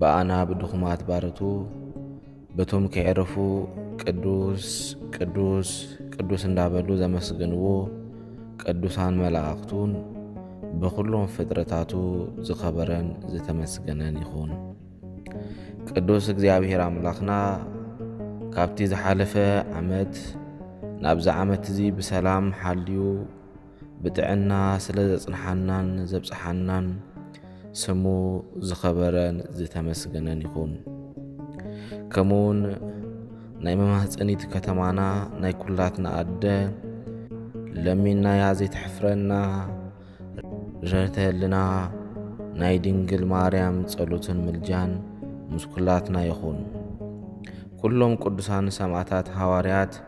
ብኣና ብድኹማት ባርቱ በቶም ከየዕረፉ ቅዱስ ቅዱስ ቅዱስ እንዳበሉ ዘመስግንዎ ቅዱሳን መላእኽቱን ብኹሎም ፍጥረታቱ ዝኸበረን ዝተመስገነን ይኹን። ቅዱስ እግዚኣብሔር ኣምላኽና ካብቲ ዝሓለፈ ዓመት ናብዚ ዓመት እዚ ብሰላም ሓልዩ ብጥዕና ስለ ዘጽንሓናን ዘብጽሓናን ስሙ ዝኸበረን ዝተመስገነን ይኹን። ከምኡውን ናይ መማህፀኒት ከተማና ናይ ኩላትና ኣደ ለሚናያ ዘይትሕፍረና ርህተ ህልና ናይ ድንግል ማርያም ጸሎትን ምልጃን ምስ ኩላትና ይኹን። ኩሎም ቅዱሳን ሰማዕታት ሃዋርያት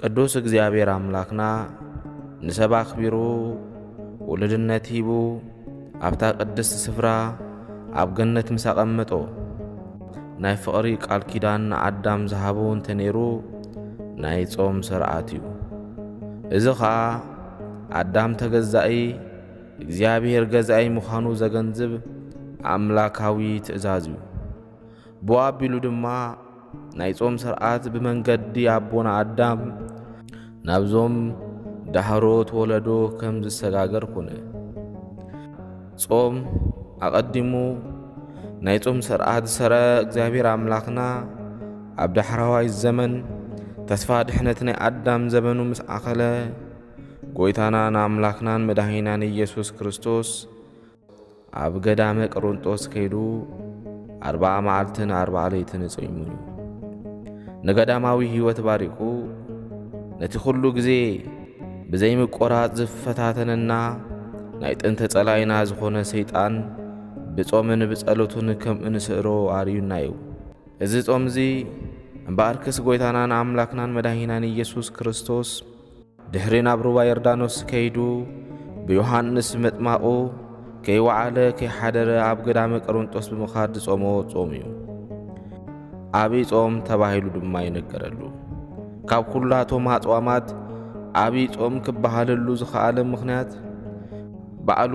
ቅዱስ እግዚኣብሔር ኣምላኽና ንሰብ ኣኽቢሩ ውሉድነት ሂቡ ኣብታ ቅድስቲ ስፍራ ኣብ ገነት ምስ ኣቐመጦ ናይ ፍቕሪ ቃል ኪዳን ንኣዳም ዝሃቦ እንተ ነይሩ ናይ ጾም ስርዓት እዩ። እዚ ኸኣ ኣዳም ተገዛኢ እግዚኣብሔር ገዛኢ ምዃኑ ዘገንዝብ ኣምላካዊ ትእዛዝ እዩ። ብኡ ኣቢሉ ድማ ናይ ጾም ስርዓት ብመንገዲ ኣቦና ኣዳም ናብዞም ዳህሮት ወለዶ ከም ዝሰጋገር ኩነ። ጾም ኣቐዲሙ ናይ ጾም ስርዓት ዝሰረ እግዚኣብሔር ኣምላኽና ኣብ ዳሕራዋይ ዘመን ተስፋ ድሕነት ናይ ኣዳም ዘበኑ ምስ ኣኸለ ጎይታናን ኣምላኽናን መድኃኒናን ኢየሱስ ክርስቶስ ኣብ ገዳመ ቅርንጦስ ከይዱ ኣርባዓ መዓልትን ኣርባዓ ለይትን እጸይሙ እዩ ንገዳማዊ ሕይወት ባሪኹ ነቲ ዅሉ ግዜ ብዘይምቈራጽ ዝፈታተነና ናይ ጥንቲ ጸላይና ዝኾነ ሰይጣን ብጾምን ብጸሎትን ከም እንስዕሮ ኣርዩና እዩ። እዚ ጾም እዚ እምበኣርክስ ጐይታናን ኣምላኽናን መድኃኒናን ኢየሱስ ክርስቶስ ድሕሪ ናብ ሩባ ዮርዳኖስ ከይዱ ብዮሃንስ መጥማቑ ከይወዓለ ከይሓደረ ኣብ ገዳመ ቀሮንጦስ ብምኻድ ዝጾሞ ጾም እዩ። ኣብይ ጾም ተባሂሉ ድማ ይነገረሉ። ካብ ኩላቶም ኣጽዋማት ኣብይ ጾም ክበሃለሉ ዝኸኣለ ምኽንያት ባዕሉ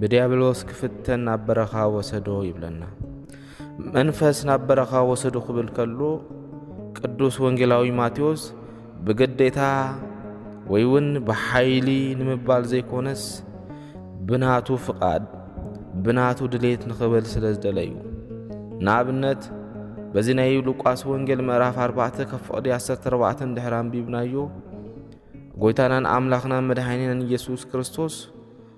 ብድያብሎስ ክፍተን ናብ በረኻ ወሰዶ ይብለና። መንፈስ ናብ በረኻ ወሰዶ ክብል ከሎ ቅዱስ ወንጌላዊ ማቴዎስ ብግዴታ ወይ እውን ብሓይሊ ንምባል ዘይኮነስ ብናቱ ፍቓድ ብናቱ ድሌት ንኽብል ስለ ዝደለ እዩ ንኣብነት በዚ ናይ ሉቃስ ወንጌል ምዕራፍ 4 ካብ ፍቕዲ 14 ድሕር ኣንቢብናዮ ጎይታናን ኣምላኽናን መድሓኒናን ኢየሱስ ክርስቶስ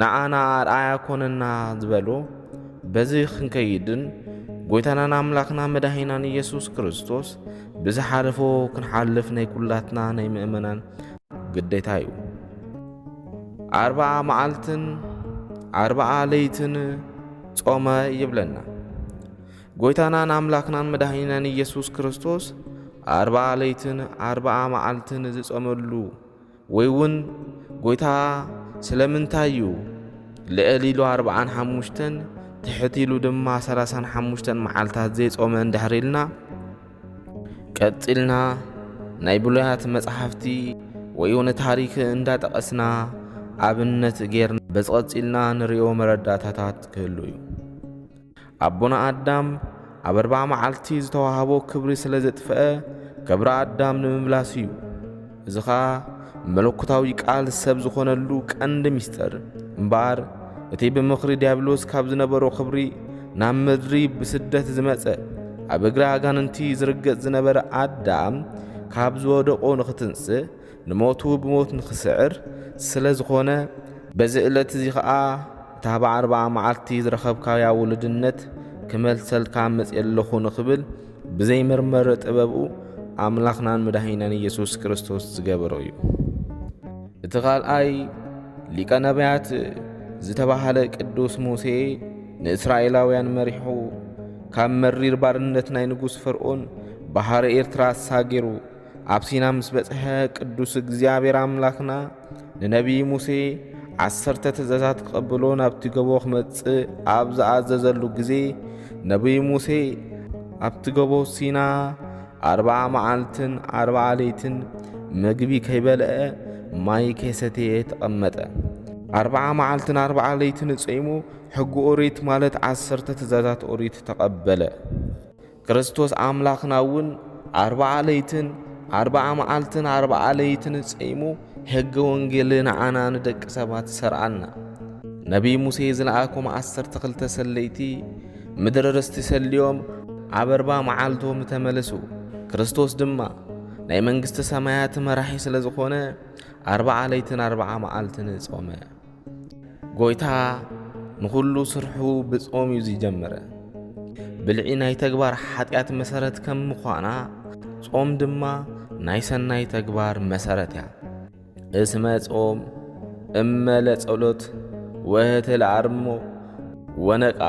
ንኣና ኣርኣያ ኮነና ዝበሎ በዚ ክንከይድን ጎይታናን ኣምላኽና መዳሂናን ኢየሱስ ክርስቶስ ብዝሓለፎ ክንሓልፍ ናይ ኩላትና ናይ ምእመናን ግዴታ እዩ። ኣርባዓ መዓልትን ኣርባዓ ለይትን ጾመ ይብለና ጎይታናን ኣምላኽናን መድኃኒናን ኢየሱስ ክርስቶስ ኣርባዓ ለይትን ኣርባዓ መዓልትን ዝጸመሉ ወይ ውን ጎይታ ስለምንታይ ዩ ልዕል ኢሉ ኣርብዓን ሓሙሽተን ትሕት ኢሉ ድማ ሰላሳን ሓሙሽተን መዓልታት ዘይጾመ እንድሕር ኢልና ቀጺልና ናይ ብሉያት መጽሓፍቲ ወይ ውን ታሪክ እንዳጠቐስና ኣብነት ጌርና በዚ ቀጺልና ንሪኦ መረዳእታታት ክህሉ ዩ። ኣቦና ኣዳም ኣብ ኣርብዓ መዓልቲ ዝተዋህቦ ክብሪ ስለ ዘጥፍአ ክብሪ ኣዳም ንምምላስ እዩ። እዚ ኸኣ መለኮታዊ ቃል ሰብ ዝኾነሉ ቀንዲ ምስጢር እምበኣር እቲ ብምኽሪ ዲያብሎስ ካብ ዝነበሮ ክብሪ ናብ ምድሪ ብስደት ዝመጸ ኣብ እግሪ ኣጋንንቲ ዝርገጽ ዝነበረ ኣዳም ካብ ዝወደቆ ንኽትንስእ ንሞቱ ብሞት ንኽስዕር ስለ ዝኾነ፣ በዚ እለት እዚ ኸኣ እታ ብዓርብዓ መዓልቲ ዝረኸብካያ ውሉድነት ክመልሰልካ መጺኤ ኣለኹ ንኽብል ብዘይ መርመሪ ጥበብኡ ኣምላኽናን መድኃኒናን ኢየሱስ ክርስቶስ ዝገበሮ እዩ። እቲ ካልኣይ ሊቀ ነቢያት ዝተባህለ ቅዱስ ሙሴ ንእስራኤላውያን መሪሑ ካብ መሪር ባርነት ናይ ንጉሥ ፈርኦን ባሕረ ኤርትራ ኣሳጊሩ ኣብ ሲና ምስ በጽሐ ቅዱስ እግዚኣብሔር ኣምላኽና ንነቢይ ሙሴ ዓሰርተ ትእዛዛት ክቐብሎ ናብቲ ገቦ ክመጽእ ኣብ ዝኣዘዘሉ ግዜ ነቢይ ሙሴ ኣብቲ ገቦ ሲና ኣርብዓ መዓልትን ኣርብዓ ለይትን ምግቢ ከይበልአ ማይ ከይሰተየ ተቐመጠ። ኣርብዓ መዓልትን ኣርብዓ ለይትን ጸይሙ ሕጊ ኦሪት ማለት ዓሰርተ ትእዛዛት ኦሪት ተቐበለ። ክርስቶስ ኣምላኽና እውን ኣርብዓ ለይትን ኣርብዓ መዓልትን ኣርብዓ ለይትን ጸይሙ ሕገ ወንጌል ንዓና ንደቂ ሰባት ሰርዓልና። ነቢይ ሙሴ ዝለኣኮም ዓሰርተ ክልተ ሰለይቲ ምድሪ ርስቲ ሰልዮም ኣብ ኣርባ መዓልቶም ተመለሱ። ክርስቶስ ድማ ናይ መንግስቲ ሰማያት መራሒ ስለ ዝኾነ ኣርብዓ ለይትን ኣርብዓ መዓልትን ጾመ። ጎይታ ንኹሉ ስርሑ ብጾም እዩ ዝጀመረ። ብልዒ ናይ ተግባር ሓጢኣት መሰረት ከም ምዃና ጾም ድማ ናይ ሰናይ ተግባር መሰረት እያ። እስመ ጾም እመ ለጸሎት ወህተ ለኣርሞ ወነቃ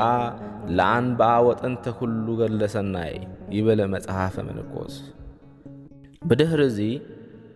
ለኣንብኣ ወጠንተ ኩሉ ገድለ ሰናይ ይበለ መጽሐፈ መነኮስ። ብድህሪ እዚ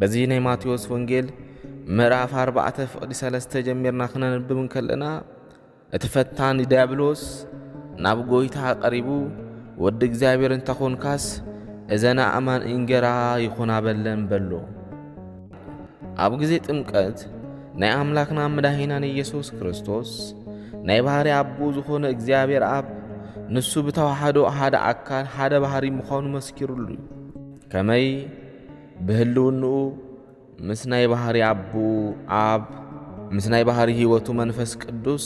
በዚ ናይ ማቴዎስ ወንጌል ምዕራፍ ኣርባዕተ ፍቕዲ ሰለስተ ጀሚርና ክነንብብ እንከለና እቲ ፈታኒ ዲያብሎስ ናብ ጎይታ ቀሪቡ ወዲ እግዚኣብሔር እንተኾንካስ እዘን ኣእማን እንጌራ ይኹና በለን በሎ። ኣብ ጊዜ ጥምቀት ናይ ኣምላኽና መዳሂናን ኢየሱስ ክርስቶስ ናይ ባህሪ ኣቦ ዝኾነ እግዚኣብሔር ኣብ ንሱ ብተዋሕዶ ሓደ ኣካል ሓደ ባህሪ ምዃኑ መስኪሩሉ እዩ። ከመይ ብህልውንኡ ምስ ናይ ባህሪ ኣቡኡ ኣብ ምስ ናይ ባህሪ ሕይወቱ መንፈስ ቅዱስ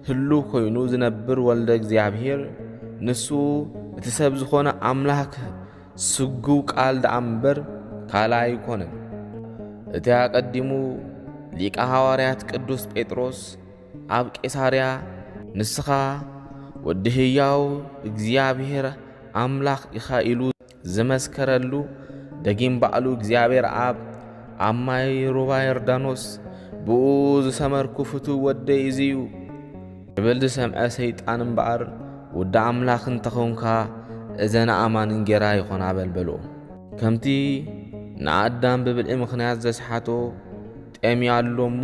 ህሉ ኮይኑ ዝነብር ወልደ እግዚኣብሔር ንሱ እቲ ሰብ ዝኾነ ኣምላክ ስጉው ቃል ደኣ እምበር ካልኣ ኣይኮነን። እቲ ኣቀዲሙ ሊቀ ሃዋርያት ቅዱስ ጴጥሮስ ኣብ ቄሳርያ ንስኻ ወዲ ህያው እግዚኣብሔር ኣምላኽ ኢኻ ኢሉ ዝመስከረሉ ደጊም ባዕሉ እግዚኣብሔር ኣብ ኣብ ማይ ሩባ ዮርዳኖስ ብኡ ዝሰመርኩ ፍቱ ወደይ እዚዩ ክብል ዝሰምዐ ሰይጣን እምበኣር ውዲ ኣምላኽ እንተኾንካ እዘን ኣእማን እንጌራ ይኾና በል በሎ። ከምቲ ንኣዳም ብብልዒ ምኽንያት ዘስሓቶ ጤምያ ኣሎ እሞ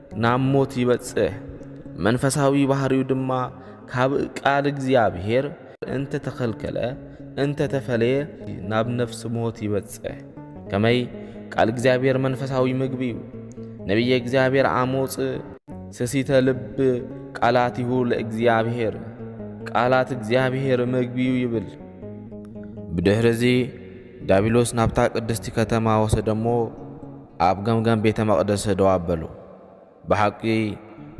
ናብ ሞት ይበጽሕ፣ መንፈሳዊ ባህሪው ድማ ካብ ቃል እግዚኣብሔር እንተተኸልከለ እንተተፈለየ ናብ ነፍሲ ሞት ይበጽሕ። ከመይ ቃል እግዚኣብሔር መንፈሳዊ ምግቢ እዩ። ነቢየ እግዚኣብሔር ኣሞጽ ስሲተ ልብ ቃላቲሁ ለእግዚኣብሔር ቃላት እግዚኣብሔር ምግቢ እዩ ይብል። ብድሕርዚ ዳቢሎስ ናብታ ቅድስቲ ከተማ ወሰደሞ ኣብ ገምገም ቤተ መቕደስ ደው ኣበሉ። ብሓቂ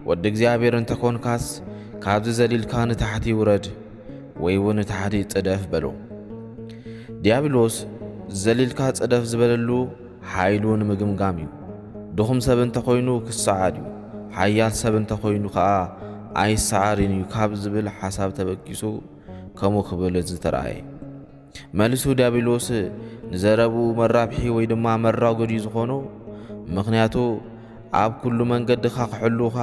ወዲ እግዚኣብሔር እንተ ኾንካስ ካብዚ ዘሊልካ ንታሕቲ ውረድ ወይውን ንታሕቲ ጽደፍ በሉ። ዲያብሎስ ዘሊልካ ጽደፍ ዝበለሉ ሓይሉ ንምግምጋም እዩ። ድኹም ሰብ እንተ ኾይኑ ክሰዓር እዩ፣ ሓያል ሰብ እንተ ኾይኑ ከኣ ኣይሰዓርን እዩ ካብ ዝብል ሓሳብ ተበጊሱ ከምኡ ክብል ዝተራእየ። መልሱ ዲያብሎስ ንዘረብኡ መራብሒ ወይ ድማ መራጎዲ ዝኾኖ ምኽንያቱ ኣብ ኩሉ መንገድኻ ክሕሉኻ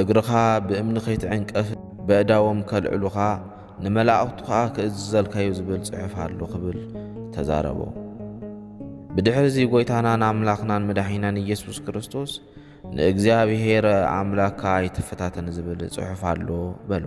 እግርኻ ብእምኒ ከይትዕንቀፍ በእዳዎም ከልዕሉኻ ንመላእኽቱ ከዓ ክእዝዘልካዩ ዝብል ጽሑፍ ኣሎ ክብል ተዛረቦ። ብድሕሪ እዚ ጎይታናን ኣምላኽናን መድሒናን ኢየሱስ ክርስቶስ ንእግዚኣብሔር ኣምላካ ኣይትፈታተን ዝብል ጽሑፍ ኣሎ በሎ።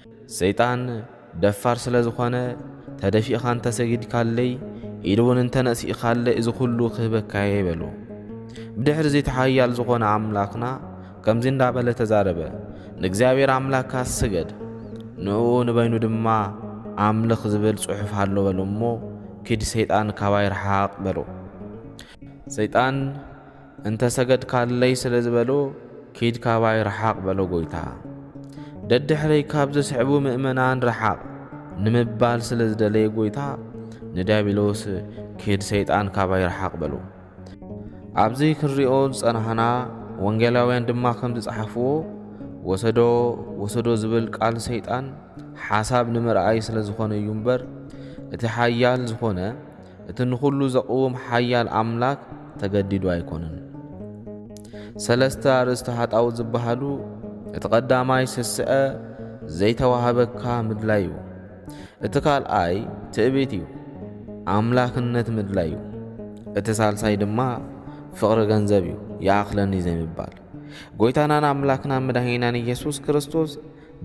ሰይጣን ደፋር ስለ ዝኾነ ተደፊእኻ እንተሰጊድካለይ ኢሉ እውን እንተነእሲእኻለይ እዚ ኩሉ ክህበካየ ይበሉ ብድሕሪ እዚ ተሓያል ዝኾነ ኣምላኽና ከምዚ እንዳበለ ተዛረበ ንእግዚኣብሔር ኣምላካ ስገድ ንኡ ንበይኑ ድማ ኣምልኽ ዝብል ጽሑፍ ኣሎ በሎ እሞ ኪድ ሰይጣን ካባይ ረሓቕ በሎ ሰይጣን እንተ ሰገድካለይ ስለ ዝበሎ ኪድ ካባይ ርሓቕ በሎ ጎይታ። ደድሕረይ ካብ ዝስዕቡ ምእመናን ርሓቕ ንምባል ስለ ዝደለየ ጎይታ ንዲያብሎስ ኪድ ሰይጣን ካባይ ርሓቕ በሎ። ኣብዚ ክንሪኦ ዝጸናህና ወንጌላውያን ድማ ከም ዝጸሓፍዎ ወሰዶ ወሰዶ ዝብል ቃል ሰይጣን ሓሳብ ንምርኣይ ስለ ዝኾነ እዩ እምበር እቲ ሓያል ዝኾነ እቲ ንኹሉ ዘቕውም ሓያል ኣምላክ ተገዲዱ ኣይኮነን። ሰለስተ ኣርእስቲ ሃጣውት ዝበሃሉ እቲ ቀዳማይ ስስዐ ዘይተዋህበካ ምድላይ እዩ። እቲ ካልኣይ ትዕቢት እዩ፣ ኣምላክነት ምድላይ እዩ። እቲ ሳልሳይ ድማ ፍቕሪ ገንዘብ እዩ፣ ይኣኽለኒ ዘይምባል። ጎይታናን ኣምላክና መድኃኒናን ኢየሱስ ክርስቶስ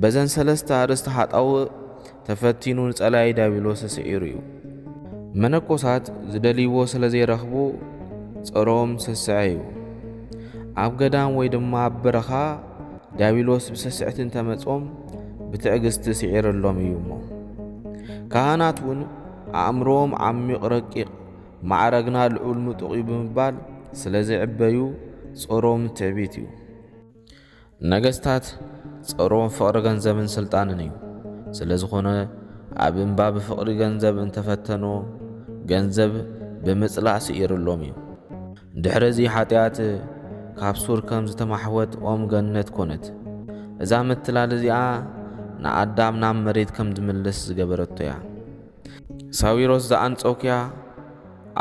በዘን ሰለስተ ኣርእስቲ ሓጣውእ ተፈቲኑ ንጸላኢ ዲያብሎስ ስዒሩ እዩ። መነኮሳት ዝደልይዎ ስለ ዘይረኽቡ ጸሮም ስስዐ እዩ። ኣብ ገዳም ወይ ድማ ኣብ በረኻ ዲያብሎስ ብስስዕቲ እንተመጾም ብትዕግስቲ ስዒረሎም እዩ እሞ ካህናት እውን ኣእምሮዎም ዓሚቕ ረቂቕ ማዕረግና ልዑል ምጡቕ እዩ ብምባል ስለ ዝዕበዩ ጾሮም ትዕቢት እዩ። ነገስታት ጸሮም ፍቕሪ ገንዘብን ስልጣንን እዩ። ስለዝኾነ ኣብ እምባ ብፍቕሪ ገንዘብ እንተፈተኑ ገንዘብ ብምጽላእ ስኢርሎም እዩ። ድሕሪ እዚ ሓጢኣት ካብ ሱር ከም ዝተማሕወት ኦም ገነት ኮነት። እዛ ምትላል እዚኣ ንኣዳም ናብ መሬት ከም ዝምለስ ዝገበረቶ እያ። ሳዊሮስ ዘኣንጾኪያ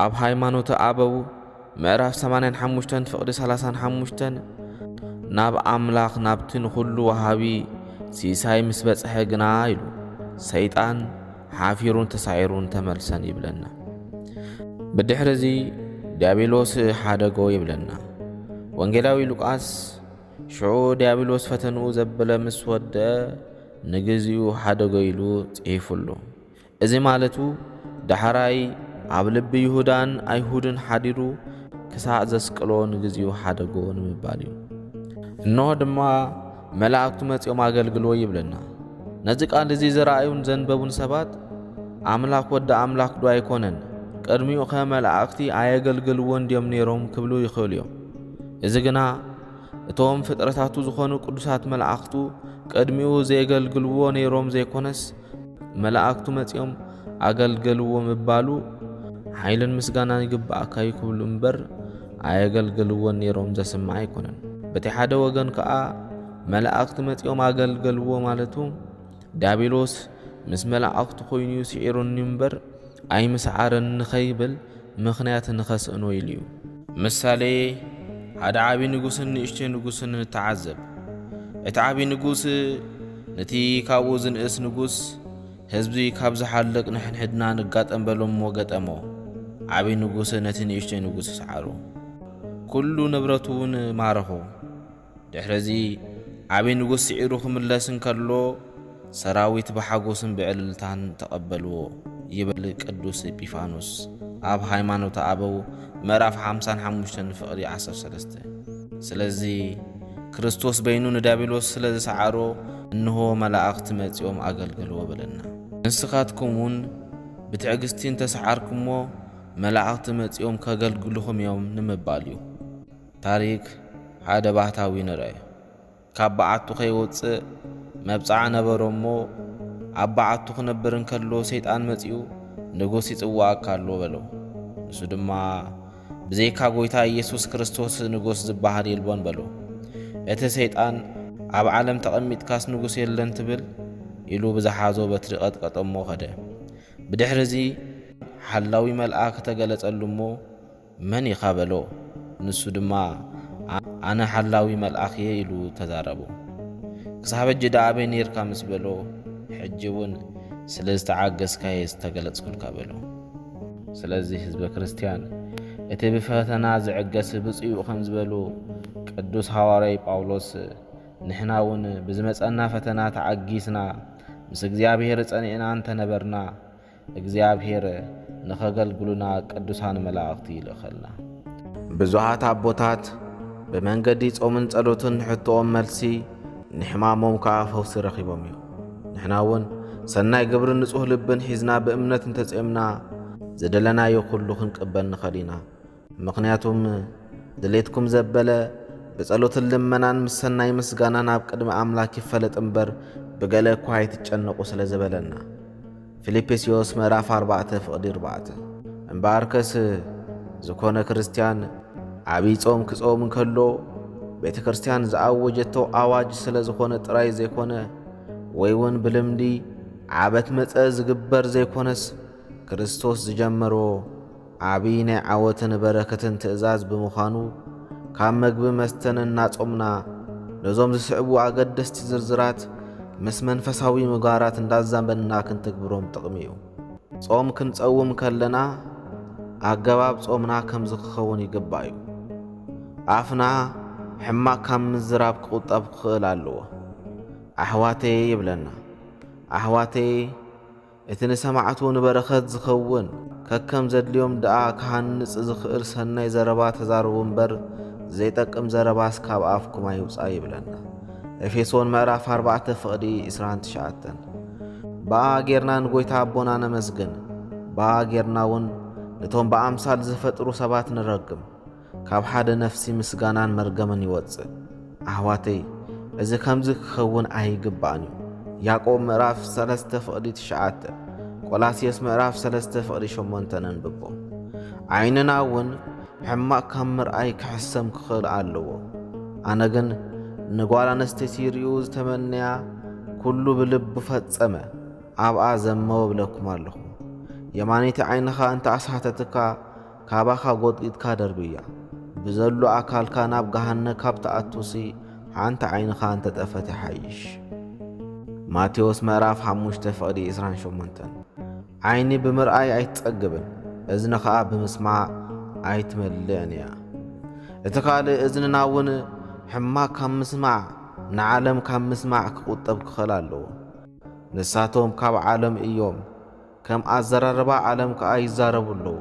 ኣብ ሃይማኖተ ኣበው ምዕራፍ 85 ፍቕዲ 35 ናብ ኣምላኽ ናብቲ ንዅሉ ወሃቢ ሲሳይ ምስ በጽሐ ግና ኢሉ ሰይጣን ሓፊሩን ተሳዒሩን ተመልሰን ይብለና። ብድሕርዚ ዲያብሎስ ሓደጎ ይብለና ወንጌላዊ ሉቃስ። ሽዑ ድያብሎስ ፈተንኡ ዘበለ ምስ ወድአ ንግዚኡ ሓደገ ኢሉ ጽሒፉ ኣሎ። እዚ ማለቱ ዳሕራይ ኣብ ልቢ ይሁዳን ኣይሁድን ሓዲሩ ክሳዕ ዘስቅሎ ንግዚኡ ሓደጎ ንምባል እዩ። እንሆ ድማ መላእክቱ መጺኦም ኣገልግልዎ ይብለና። ነዚ ቃል እዚ ዝረኣዩን ዘንበቡን ሰባት ኣምላኽ ወዲ ኣምላኽ ዶ ኣይኮነን? ቅድሚኡኸ መላእኽቲ ኣየገልግልዎን ድዮም ነይሮም? ክብሉ ይኽእሉ እዮም። እዚ ግና እቶም ፍጥረታቱ ዝኾኑ ቅዱሳት መላእኽቱ ቅድሚኡ ዘየገልግልዎ ነይሮም ዘይኮነስ መላእክቱ መጺኦም ኣገልገልዎ ምባሉ ሓይልን ምስጋናን ይግባኣካ እዩ ክብሉ እምበር ኣየገልገልዎን ነይሮም ዘስምዕ ኣይኮነን። በቲ ሓደ ወገን ከኣ መላእክቲ መጺኦም ኣገልገልዎ ማለቱ ዲያብሎስ ምስ መላእኽቱ ዀይኑ'ዩ ስዒሩኒ እምበር፣ ኣይምስዓረን ንኸይብል ምኽንያት ንኸስእኖ ኢሉ'ዩ። ምሳሌ፣ ሓደ ዓብዪ ንጉስን ንእሽቶ ንጉስን ንተዓዘብ። እቲ ዓብዪ ንጉስ ነቲ ካብኡ ዝንእስ ንጉስ፣ ህዝቢ ካብ ዝሓልቕ ንሕንሕድና ንጋጠም በሎ እሞ ገጠሞ። ዓብዪ ንጉስ ነቲ ንእሽቶ ንጉስ ሰዓሮ፣ ኵሉ ንብረቱ'ውን ማረኾ። ድሕርዚ ዓቢ ንጉስ ስዒሩ ክምለስ እንከሎ ሰራዊት ብሓጎስን ብዕልልታን ተቐበልዎ ይብል ቅዱስ ኤጲፋኖስ ኣብ ሃይማኖተ ኣበው ምዕራፍ ሓምሳን ሓሙሽተን ፍቕሪ ዓሰርተ ሰለስተ ስለዚ ክርስቶስ በይኑ ንዲያብሎስ ስለ ዝሰዓሮ እንሆ መላእኽቲ መጺኦም ኣገልገልዎ በለና ንስኻትኩም እውን ብትዕግስቲ እንተሰዓርኩሞ መላእኽቲ መጺኦም ከገልግልኹም እዮም ንምባል እዩ። ታሪክ ሓደ ባህታዊ ንርኣዮ ካብ በዓቱ ከይወጽእ መብጽዓ ነበሮ እሞ ኣብ በዓቱ ክነብር እንከሎ ሰይጣን መጺኡ ንጉስ ይጽዋኣካ ኣሎ በሎ ንሱ ድማ ብዘይካ ጎይታ ኢየሱስ ክርስቶስ ንጉስ ዝበሃል የልቦን በሎ እቲ ሰይጣን ኣብ ዓለም ተቐሚጥካስ ንጉስ የለን ትብል ኢሉ ብዝሓዞ በትሪ ቀጥቀጦ እሞ ከደ ብድሕሪ እዚ ሓላዊ መልኣክ ተገለጸሉ እሞ መን ኢኻ በሎ። ንሱ ድማ ኣነ ሓላዊ መልኣኽ እየ ኢሉ ተዛረቦ። ክሳብ ሕጂ ደኣ ኣበይ ኔርካ ምስ በሎ፣ ሕጂ እውን ስለ ዝተዓገስካ እየ ዝተገለጽኩልካ በሎ። ስለዚ ህዝበ ክርስቲያን እቲ ብፈተና ዝዕገስ ብፁዕ ከም ዝበሉ ቅዱስ ሃዋርያይ ጳውሎስ ንሕና እውን ብዝመጸና ፈተና ተዓጊስና ምስ እግዚኣብሔር ጸኒዕና እንተነበርና እግዚኣብሔር ንኸገልግሉና ቅዱሳን መላእኽቲ ይልእኸልና። ብዙኃት ኣቦታት ብመንገዲ ጾምን ጸሎትን ንሕቶኦም መልሲ ንሕማሞም ከኣ ፈውሲ ረኺቦም እዮም። ንሕናውን ሰናይ ግብርን ንጹህ ልብን ሒዝና ብእምነት እንተጼምና ዝደለናዮ ኩሉ ክንቅበል ንኸል ኢና። ምኽንያቱም ድሌትኩም ዘበለ ብጸሎትን ልመናን ምስ ሰናይ ምስጋናን ኣብ ቅድሚ ኣምላክ ይፈለጥ እምበር ብገለ እኳ ኣይትጨነቑ ስለ ዝበለና ፊልጵስዮስ ምዕራፍ 4 ፍቕዲ 4 እምበኣርከስ ዝኾነ ክርስትያን ዓብዪ ጾም ክጾም እንከሎ ቤተ ክርስትያን ዝኣወጀቶ ኣዋጅ ስለ ዝኾነ ጥራይ ዘይኮነ ወይ እውን ብልምዲ ዓበት መጸ ዝግበር ዘይኮነስ ክርስቶስ ዝጀመሮ ዓብይ ናይ ዓወትን በረከትን ትእዛዝ ብምዃኑ ካብ መግቢ መስተን እናጾምና ነዞም ዝስዕቡ ኣገደስቲ ዝርዝራት ምስ መንፈሳዊ ምግባራት እንዳዛመድና ክንትግብሮም ጥቕሚ እዩ። ጾም ክንጸውም ከለና ኣገባብ ጾምና ከምዚ ክኸውን ይግባእ እዩ። ኣፍና ሕማቕ ካብ ምዝራብ ክቑጠብ ክኽእል ኣለዎ። ኣሕዋተየ ይብለና። ኣሕዋተየ! እቲ ንሰማዕቱ ንበረኸት ዝኸውን ከከም ዘድልዮም ደኣ ክሃንጽ ዝኽእል ሰናይ ዘረባ ተዛረቡ እምበር ዘይጠቅም ዘረባስ ካብ ኣፍኩም ኣይውጻእ ይብለና ኤፌሶን ምዕራፍ ኣርባዕተ ፍቕዲ ዕስራን ትሽዓተን። በኣ ጌርና ንጎይታ ኣቦና ነመስግን፣ በኣ ጌርና እውን ነቶም ብኣምሳል ዝፈጥሩ ሰባት ንረግም። ካብ ሓደ ነፍሲ ምስጋናን መርገምን ይወጽእ። ኣሕዋተይ እዚ ከምዚ ክኸውን ኣይግባእን እዩ። ያዕቆብ ምዕራፍ ሰለስተ ፍቕዲ ትሽዓተ ቆላስየስ ምዕራፍ ሰለስተ ፍቕዲ ሸሞንተ ነንብቦ። ዓይንና እውን ሕማቕ ካብ ምርኣይ ክሕሰም ክኽእል ኣለዎ። ኣነ ግን ንጓል ኣነስተይቲ ይርእዩ ዝተመነያ ኩሉ ብልቡ ፈጸመ ኣብኣ ዘመወ ብለኩም ኣለኹ። የማነይቲ ዓይንኻ እንተ ኣስሓተትካ ካባኻ ጎጥጊጥካ ደርብያ ብዘሉ ኣካልካ ናብ ገሃነ ካብ ትኣቱሲ ሓንቲ ዓይንኻ እንተጠፈት ይሓይሽ። ማቴዎስ ምዕራፍ ሓሙሽተ ፍቕዲ ዕስራን ሸሞንተን ዓይኒ ብምርኣይ ኣይትጸግብን፣ እዝኒ ኸኣ ብምስማዕ ኣይትመልእን እያ። እቲ ካልእ እዝንና እውን ሕማቅ ካብ ምስማዕ ንዓለም ካብ ምስማዕ ክቁጠብ ክኸል ኣለዎ። ንሳቶም ካብ ዓለም እዮም፣ ከም ኣዘራርባ ዓለም ከኣ ይዛረቡ ኣለዉ።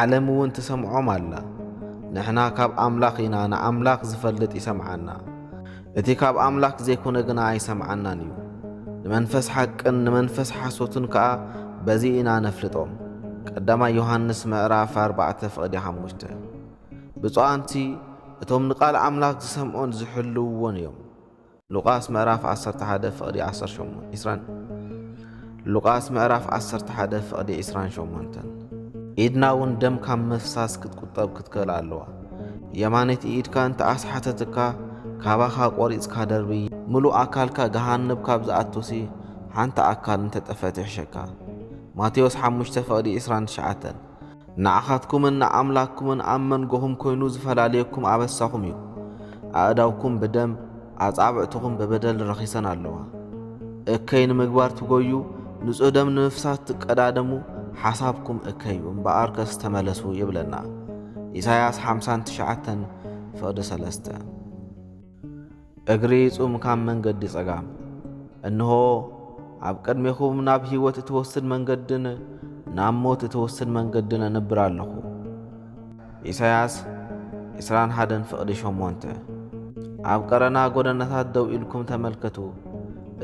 ዓለም እውን ትሰምዖም ኣላ። ንሕና ካብ ኣምላኽ ኢና፣ ንኣምላኽ ዝፈልጥ ይሰምዓና፣ እቲ ካብ ኣምላክ ዘይኮነ ግና ኣይሰምዓናን እዩ። ንመንፈስ ሓቅን ንመንፈስ ሓሶትን ከኣ በዚ ኢና ነፍልጦም። ቀዳማይ ዮሃንስ ምዕራፍ ኣርባዕተ ፍቕዲ ሓሙሽተ ብፁዓንሲ እቶም ንቃል ኣምላክ ዝሰምዑን ዝሕልውዎን እዮም። ሉቃስ ምዕራፍ ዓሰርተ ሓደ ፍቕዲ ዓሰርተ ሸሞንተ ዒስራን ሉቃስ ምዕራፍ ዓሰርተ ሓደ ፍቕዲ ዒስራን ሸሞንተን ኢድና እውን ደም ካብ ምፍሳስ ክትቁጠብ ክትክእል ኣለዋ። የማነይቲ ኢድካ እንተ ኣስሓተትካ ካባኻ ቆሪጽካ ደርብይ ምሉእ ኣካልካ ገሃነብ ካብ ዝኣቱሲ ሓንቲ ኣካል እንተ ጠፈት ይሕሸካ። ማቴዎስ ሓሙሽተ ፍቕዲ ዒስራን ትሽዓተን ንዓኻትኩምን ንኣምላክኩምን ኣብ መንጎኹም ኰይኑ ዝፈላልየኩም ኣበሳኹም እዩ። ኣእዳውኩም ብደም፣ ኣጻብዕትኹም ብበደል ረኺሰን ኣለዋ። እከይ ንምግባር ትጐዩ፣ ንጹህ ደም ንምፍሳስ ትቀዳደሙ፣ ሓሳብኩም እከይ እዩ፣ እምበኣርከስ ተመለሱ ይብለና። ኢሳይያስ ሓምሳን ትሽዓተን ፍቕዲ ሰለስተ። እግሪ ጹም ካብ መንገዲ ጸጋም እንሆ ኣብ ቅድሜኹም ናብ ሕይወት እትወስድ መንገድን ናብ ሞት እትወስድ መንገድን ኣንብር ኣለኹ። ኢሳያስ 21 ፍቕዲ 8 ኣብ ቀረና ጐደናታት ደው ኢልኩም ተመልከቱ፣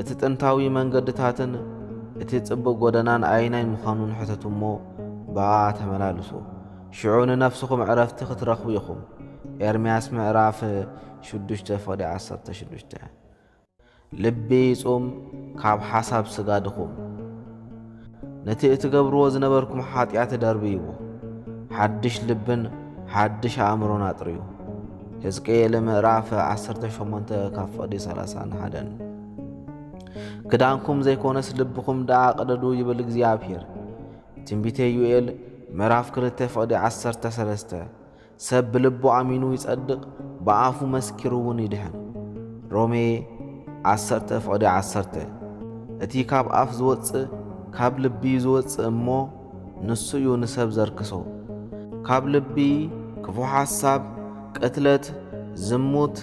እቲ ጥንታዊ መንገድታትን እቲ ጽቡቕ ጐደናን ኣይናይ ምዃኑን ሕተቱ እሞ ብኣ ተመላልሱ። ሽዑ ንነፍስኹም ዕረፍቲ ክትረኽቡ ኢኹም። ኤርምያስ ምዕራፍ ሽዱሽተ ፍቕዲ ዓሰርተ ሽዱሽተ ልቢ ይጹም ካብ ሓሳብ ስጋ ድኹም። ነቲ እትገብርዎ ዝነበርኩም ሓጢኣት ደርብይዎ፣ ሓድሽ ልብን ሓድሽ ኣእምሮን ኣጥርዩ። ህዝቅኤል ምዕራፍ ዓሰርተ ሸሞንተ ካብ ፍቕዲ ሰላሳን ሓደን ክዳንኩም ዘይኮነስ ልብኹም ደኣ ቅደዱ ይብል እግዚኣብሄር። ትንቢተ ዩኤል ምዕራፍ ክልተ ፍቕዲ ዓሰርተ ሰለስተ ሰብ ብልቡ ኣሚኑ ይጸድቕ ብኣፉ መስኪሩውን ይድሕን። ሮሜ ዓሰርተ ፍቕዲ ዓሰርተ እቲ ካብ ኣፍ ዝወጽእ ካብ ልቢ እዩ ዝወጽእ እሞ ንሱ እዩ ንሰብ ዘርክሶ። ካብ ልቢ ክፉእ ሓሳብ፣ ቅትለት፣ ዝሙት፣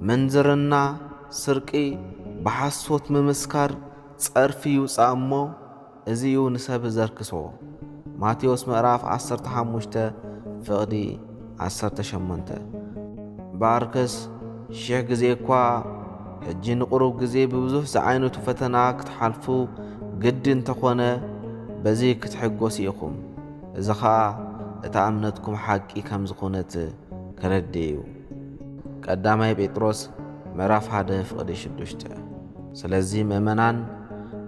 ምንዝርና፣ ስርቂ፣ ብሓሶት ምምስካር፣ ጸርፊ ይውጻእ እሞ፣ እዚ እዩ ንሰብ ዘርክሶ። ማቴዎስ ምዕራፍ ዓሰርተ ሓሙሽተ ፍቕዲ ዓሰርተ ሸሞንተ እምበኣር ከስ ሽሕ ግዜ እኳ ሕጂ ንቕሩብ ግዜ ብብዙሕ ዝዓይነቱ ፈተና ክትሓልፉ ግዲ እንተ ኾነ በዚ ክትሕጎሱ ኢኹም እዚ ኸኣ እታ እምነትኩም ሓቂ ከም ዝኾነት ከረድእ እዩ። ቀዳማይ ጴጥሮስ ምዕራፍ ሓደ ፍቕዲ ሽዱሽተ። ስለዚ ምእመናን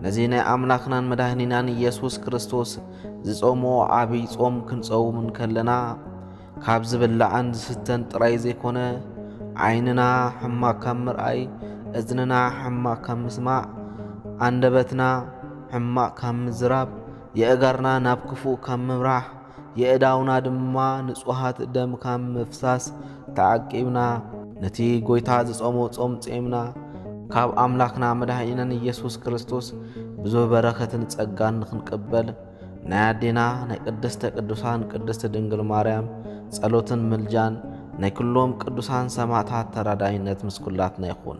ነዚ ናይ ኣምላኽናን መድኃኒናን ኢየሱስ ክርስቶስ ዝጾምዎ ዓብይ ጾም ክንጸውም እንከለና ካብ ዝብላዕን ዝስተን ጥራይ ዘይኮነ ዓይንና ሕማቅ ካብ ምርኣይ፣ እዝንና ሕማቅ ካብ ምስማዕ፣ ኣንደበትና ሕማቅ ካብ ምዝራብ፣ የእጋርና ናብ ክፉእ ካብ ምምራሕ፣ የእዳውና ድማ ንጹሃት ደም ካብ ምፍሳስ ተዓቂብና። ነቲ ጐይታ ዝጾሞ ጾም ጼምና። ካብ ኣምላኽና መድኃኒናን ኢየሱስ ክርስቶስ ብዙህ በረኸትን ጸጋን ንኽንቅበል ናይ ኣዴና ናይ ቅድስተ ቅዱሳን ቅድስቲ ድንግል ማርያም ጸሎትን ምልጃን ናይ ኩሎም ቅዱሳን ሰማዕታት ተራዳኢነት ምስ ኩላትና ይኹን።